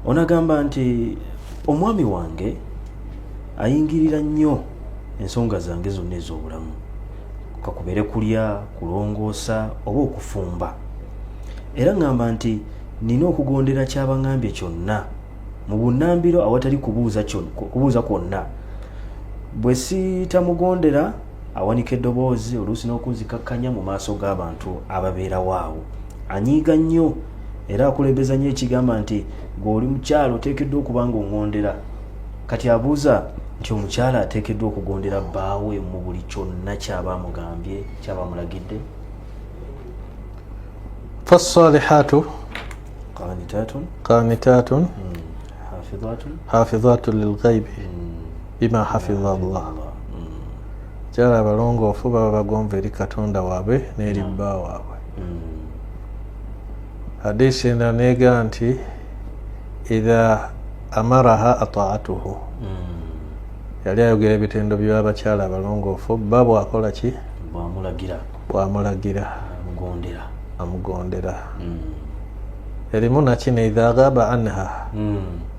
onagamba nti omwami wange ayingirira nnyo ensonga zange zonna ez'obulamu kakubere kulya kulongoosa oba okufumba era ŋŋamba nti nina okugondera kyabaŋambye kyonna mu bunambiro awatali kubuuza kwonna bwe sitamugondera awanika eddoboozi oluusi n'okunzikakkanya mu maaso g'abantu ababeerawo awo anyiiga nnyo era akulembeza nnyo ekigamba nti gweoli mukyalo oteekeddwa okuba nga ongondera kati abuuza nti omukyala ateekeddwa okugondera bbaawe mu buli kyonna kyaba amugambye kyaba amulagidde fasalihatu qanitatun qanitatun hmm. hafidhatun lilghaibi hmm. bima hafiza llah kyala abalongoofu baba bagonva eri katonda waabwe n'eri bba waabwe hadisi ena neega nti idha amaraha ataatuhu yali ayogera ebitendo byabakyala abalongoofu bba bwakola ki bwamulagira amugondera mm. erimu nakino idha ghaba anha mm.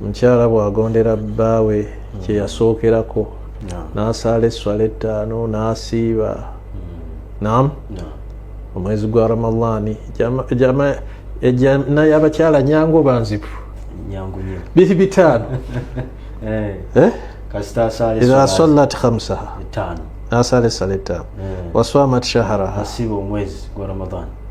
omukyala bw'agondera bbaawe kye yasookerako n'asaala esswala ettaano n'asiiba nam omwezi gwa ramadaani ejana y'abakyala nyangu oba nzibu biri bitaano eh. eh? ira sallat hamsaha n'asaala essala ettaano eh. waswamat shaharaha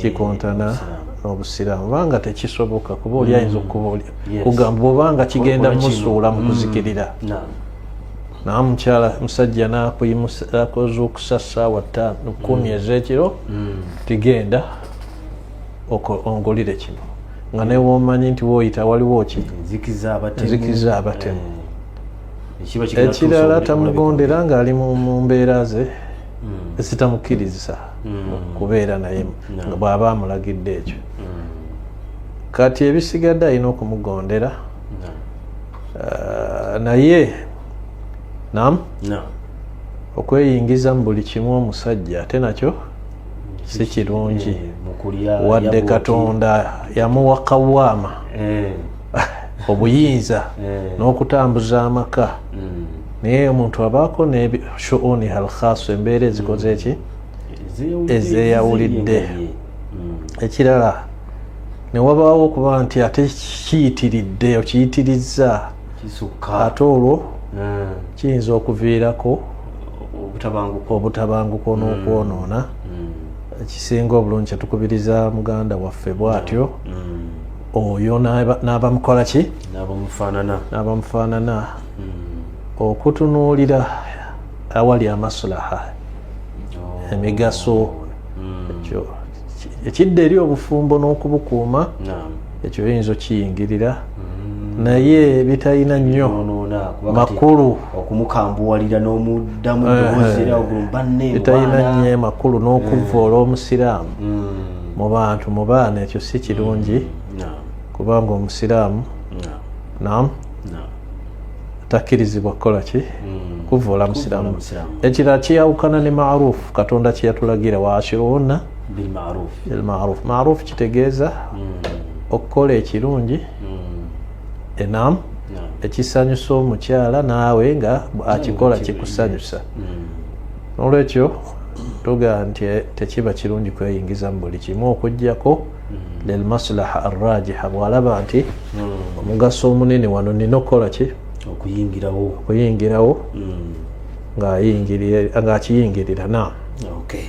kikontana n'obusiraamu obanga tekisoboka kuba oli ayinza mm. okugamba obanga kigenda musuula mu mm. kuzikirira nawe mukyala musajja nakoze okusa saawa ttaano kumi mm. ezekiro tigenda ongulire kino nga newomanyi nti woyita waliwo ki enzikiza abatemu eh. ekirala tamugondera ngaali mu mbeera ze ezitamukkiriza mm. kubeera naye nga bw'aba amulagidde ekyo mm. kati ebisigadde alina okumugondera uh, naye nam okweyingiza mu buli kimu omusajja ate nakyo si kirungi eh, wadde katonda yamuwa kawaama eh. obuyinza eh. n'okutambuza amaka hmm. naye omuntu abaako neshuuni halkhaasu embeera ezikoze eki hmm. ezeyawulidde hmm. ekirala newabaawo okuba nti ate kiyitiridde okiyitirizza ate olwo kiyinza okuviirako obutabanguko n'okwonoona ekisinga obulungi kyetukubiriza muganda waffe bwatyo oyo n'abamukola ki n'abamufaanana hmm. okutunuulira awali amasulaha oh. emigaso hmm. ekyo ekidda eri obufumbo n'okubukuuma ekyo oyinza okiyingirira hmm. naye bitalina nnyo makulu okumukambuwalira n'omuddamu eh, eh. bitalina nnyo makulu n'okuvvoola omusiraamu mu bantu mu baana ekyo si kirungi kubanga omusiraamu nam takkirizibwa kukola ki mm. kuvoola musiraamu ekirala kyeyawukana ne maruufu katonda kyeyatulagira waashiruhunna elmaruufu maruufu kitegeeza mm. okukola ekirungi mm. enam ekisanyusa omukyala naawe nga akikola kikusanyusa nolwekyo tugamba nti eh, tekiba kirungi kweyingiza mu buli kimu okugjako hmm. lilmaslaha arrajiha bwalaba nti hmm. omugaso omunene wano nina okukola ki okuyingirawo okuyingirawo hmm. ngaakiyingirira na okay.